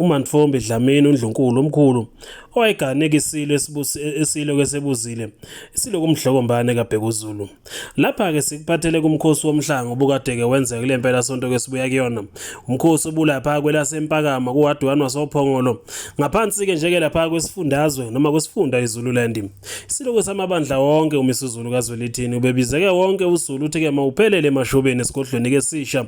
uMantfombi Dlamini uNdlunkulu omkhulu owayeganeka isilo esilo kwesebuzile isilo kumdlokombane kaBhekuzulu lapha-ke sikuphathele kumkhosi womhlango obukade-ke wenzeka kule mpela sonto kwesibuya kuyona umkhosi obulapha kwelasempakama kuhadwani wasophongolo ngaphansi-ke njeke lapha kwesifundazwe noma kwesifunda izululand isilo kwesamabandla wonke umisuzulu kazwelithini ubebizeke wonke uzulu uthi-ke mawuphelele emashobeni esigodlweni-ke sisha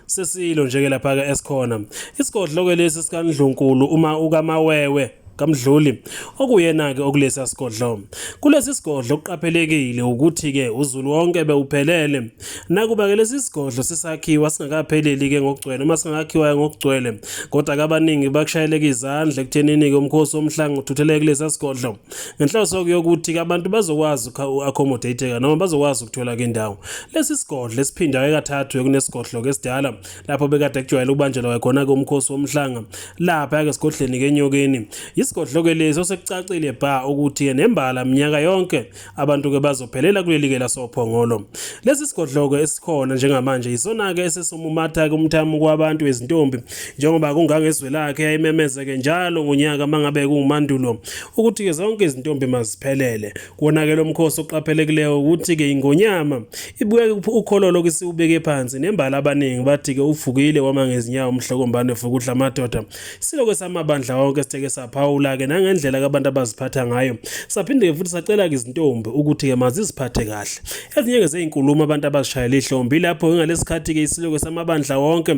sesilo nje ke lapha ke esikhona isigodlo ke lesi sikanidlunkulu uma ukamawewe kaMdluli okuyena-ke okulesi sigodlo kulesi sigodlo kuqaphelekile ukuthi-ke uzulu wonke bewuphelele nakuba-ke lesi sigodlo sisakhiwa singakapheleli-ke ngokugcwele uma singakhiwa ngokugcwele kodwa-ke abaningi bakushayeleka izandla ekuthenini-ke umkhosi womhlanga uthutheleke kulesi sigodlo ngenhloso yokuthi abantu bazokwazi uku-accommodateka noma bazokwazi ukuthola kendawo lesi sigodlo esiphindayo kathathu ekunesigodlo kesidala lapho bekade kujwayele ukubanjelwa khona-ke umkhosi womhlanga lapha-ke esigodleni kenyokeni yisigodlo-ke lesi osekucacile bha ukuthi-ke nembala minyaka yonke abantu-ke bazophelela kuleli-ke lasophongolo lesi sigodlo-ke esikhona njengamanje yisona-ke esesumumatha-ke umthamo kwabantu ezintombi njengoba kungangezwe lakhe yayimemeze-ke njalo ngonyaka uma ngabe kuwumandulo ukuthi-ke zonke izintombi maziphelele kuwona-ke lo mkhosi oqaphelekileyo ukuthi-ke ingonyama ibuye ukholo lokhu siwubeke phansi nembala abaningi bathi-ke uvukile wama ngezinyawo umhlokombane fukuhla amadoda siloke samabandla wonke sitheke saphawula-ke nangendlela kabantu abaziphatha ngayo saphinde-ke futhi sacela-ke izintombi ukuthi-ke maziziphathe kahle ezinye-ke zeyinkulumo abantu abazishayela ihlombi lapho ngalesi khathi-ke isiloke samabandla wonke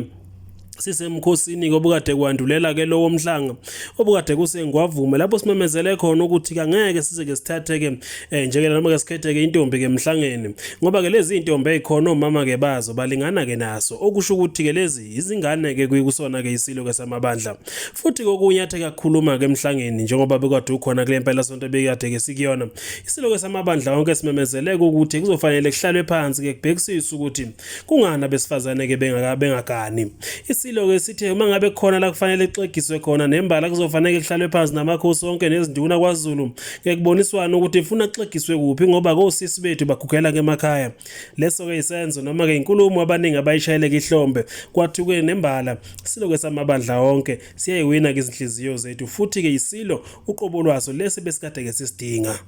sisemkhosini kobukade kwandulela ke lowo mhlanga obukade kusengwavume lapho simemezele khona ukuthi kangeke size ke sithatheke eh, njengela noma ke sikhetheke intombi ke emhlangeni ngoba ke lezi intombi ezikhona omama ke bazo balingana ke naso okusho ukuthi ke lezi izingane ke kuyikusona ke isilo ke samabandla futhi kokunye athe kakhuluma ke emhlangeni njengoba bekade ukhona kule mpela sonto bekade ke sikuyona isilo ke samabandla wonke simemezele ukuthi kuzofanele kuhlalwe phansi ke kubhekisisa ukuthi Kungani abesifazane ke bengaka bengagani? Isilo ke sithe uma ngabe khona la kufanele kuxegiswe khona nembala kuzofanele kuhlalwe phansi namakhosi onke nezinduna kwaZulu ngekuboniswana ukuthi ifuna kuxegiswe kuphi ngoba kosisi bethu bagugela kemakhaya. Leso ke isenzo noma ke inkulumo abaningi abayishayeleke ihlombe kwathuke nembala silo ke samabandla onke siyayiwina ke izinhliziyo zethu futhi ke isilo uqobo lwaso lesi besikade ke sisidinga.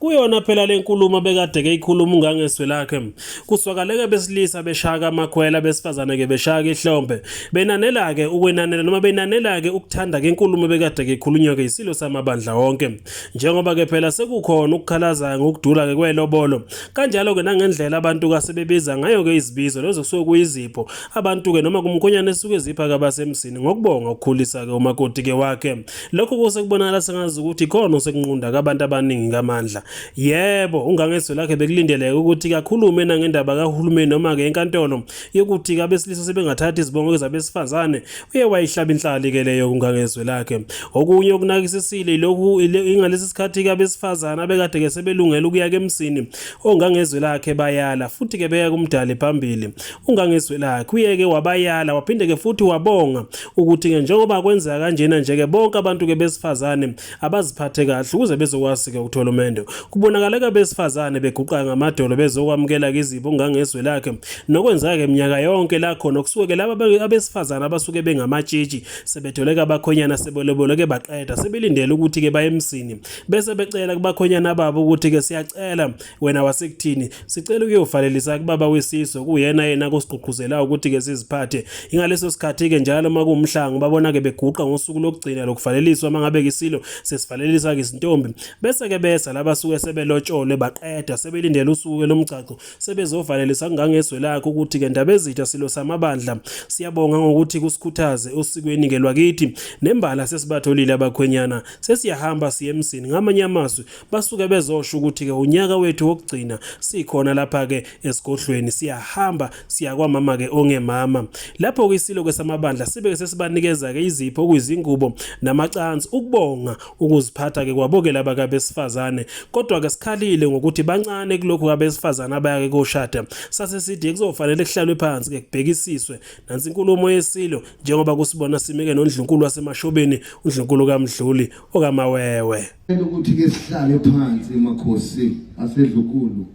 Kuyona phela le nkulumo bekadeke ikhuluma ungangeswe lakhe. Kuswakaleke besilisa beshaka amakhwela besifazane ke beshaka ihlombe. Benanela ke ukwenanela noma benanela ke ukuthanda ke nkulumo bekadeke ikhulunywa ke isilo samabandla wonke. Njengoba ke phela sekukhona ukukhalaza ngokudula ke kwelobolo. Kanjalo ke nangendlela abantu kasebebiza ngayo ke izibizo lezo kusuke kuyizipho. Abantu ke noma kumkhonyana esuke zipha kabasemzini ngokubonga ukukhulisa ke umakoti ke wakhe. Lokhu kuse kubonakala sengazi ukuthi khona osekunqunda kabantu abaningi ngamandla. Yebo, ungangezwe lakhe bekulindeleke ukuthi kakhulume nangendaba kahulumeni noma ke enkantolo yokuthi abesilisa sebengathatha izibongo zabesifazane. Uye wayihlaba inhlali ke leyo kungangezwe lakhe. Okunye okunakisisile lokhu ingalesi sikhathi abesifazane abekade ke sebelungela ukuya kemsini ongangezwe lakhe bayala futhi ke beya kumdali phambili. Ungangezwe lakhe uyeke wabayala waphinde ke futhi wabonga ukuthi ke njengoba kwenzeka kanjena nje ke bonke abantu ke besifazane abaziphathe kahle ukuze bezokwazi ke ukuthola umendo kubonakala ke besifazane beguqa ngamadolo bezokwamukela ke izibo ngangezwe lakhe nokwenzeka ke minyaka yonke la khona kusuke ke laba abesifazane abasuke bengamatshitshi sebethole ke abakhonyana sebelebole ke baqeda sebelindele ukuthi ke baye emsini bese becela kubakhonyana babo ukuthi ke siyacela wena wasekuthini Sicela ukuyovalelisa kubaba wesizwe kuyena yena kusigqugquzela ukuthi ke siziphathe. Ingaleso sikhathi ke njalo uma kuwumhlango babona ke beguqa ngosuku lokugcina lokuvaleliswa mangabe kisilo sesivalelisa ke izintombi. Bese ke besa laba suke sebelotsholwe baqeda sebelindele usuku lomgcagco sebezovalelisa kungangezwe lakho ukuthi ke ndaba ezitha silo samabandla. Siyabonga ngokuthi kusikhuthaze osikweni ke lwakithi nembala sesibatholile abakhwenyana sesiyahamba siye emsini ngamanye amazwi basuke bezosho ukuthi-ke unyaka wethu wokugcina sikhona lapha-ke esigodlweni siyahamba siya kwamama-ke ongemama lapho-ke isilo-ke samabandla sibe-ke sesibanikeza-ke izipho okuyizingubo namacansi ukubonga ukuziphatha-ke kwabo-ke laba kabesifazane kodwa-ke sikhalile ngokuthi bancane kulokhu kabesifazane abaya-ke koshada sase sithi kuzofanele kuhlalwe phansi-ke kubhekisiswe nansi inkulumo yesilo njengoba kusibona sime-ke nondlunkulu wasemashobeni undlunkulu kamdluli okamawewe Ngicela ukuthi ke sihlale phansi makhosi asedlukulu.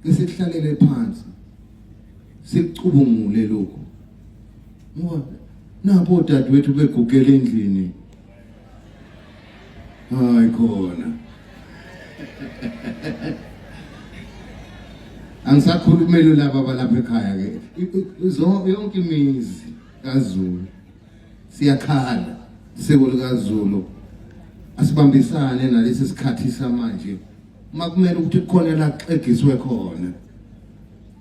Ke sihlalele phansi. Sicubungule lokho. Ngoba napo dadwethu begugela endlini. Hayi khona. Angisakhulumeli laba balapha ekhaya ke. Yonke imizi kaZulu. Siyakhala siko likaZulu asibambisane nalesi sikhathi samanje uma kumele ukuthi kukhona laxegiswe khona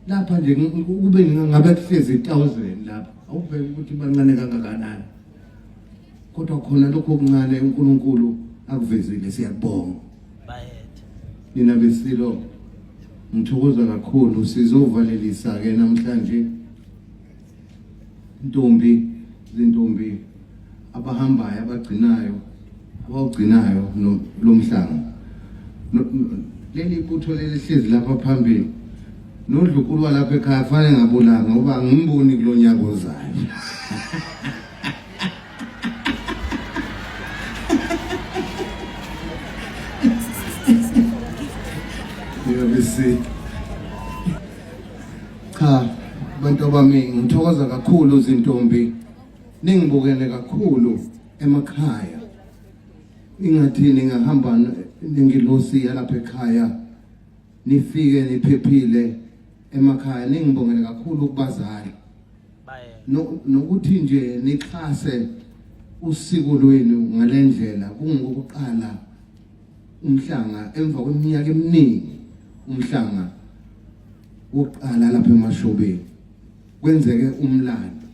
lapha nje kube ngabe kuhlezi 1000 lapha awubheke ukuthi bancane kangakanani kodwa khona lokho okuncane uNkulunkulu akuvezile siyabonga bayethe nina besilo ngithokoza kakhulu sizovalelisa ke namhlanje intombi zintombi abahambayo abagcinayo abawugcinayo lo mhlanga leli butho lelihlezi lapha phambili nodlukulu walapha ekhaya kufanele ngabulanga ngoba angimboni kulo nyaka ozayo You'll be sick. Cha bantu abaningi ngithokoza kakhulu izintombi ningibukele kakhulu emakhaya ingathi ningahamba nengilosi yalapha ekhaya nifike niphephile emakhaya ningibongele kakhulu kubazali nokuthi nje nixhase usiko lwenu ngalendlela kungokuqala umhlanga emva kweminyaka eminingi umhlanga wokuqala lapha emashobeni kwenzeke umlando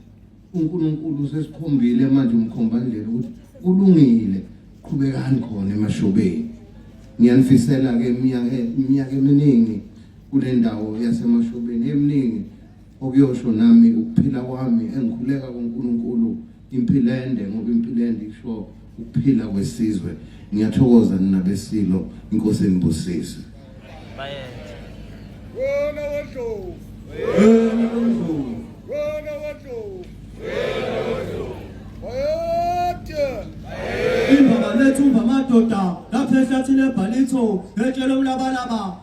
uNkulunkulu sesikhombile manje umkhombandlela ukuthi kulungile qhubekani khona emashobeni ngiyanifisela ke iminyaka iminyaka eminingi kule ndawo yasemashobeni eminingi okuyosho nami ukuphila kwami engikhuleka kuNkulunkulu Impilende ngoba impilende isho ukuphila kwesizwe. Ngiyathokoza nina besilo inkosi enibusise. Bayethe. Wena wodlovu. Wena wodlovu. Wena wodlovu. Wena wodlovu. Bayethe. Bayethe. Imvama lethu mvama doda lapha ehlathini ebhalitho etshela umlabalaba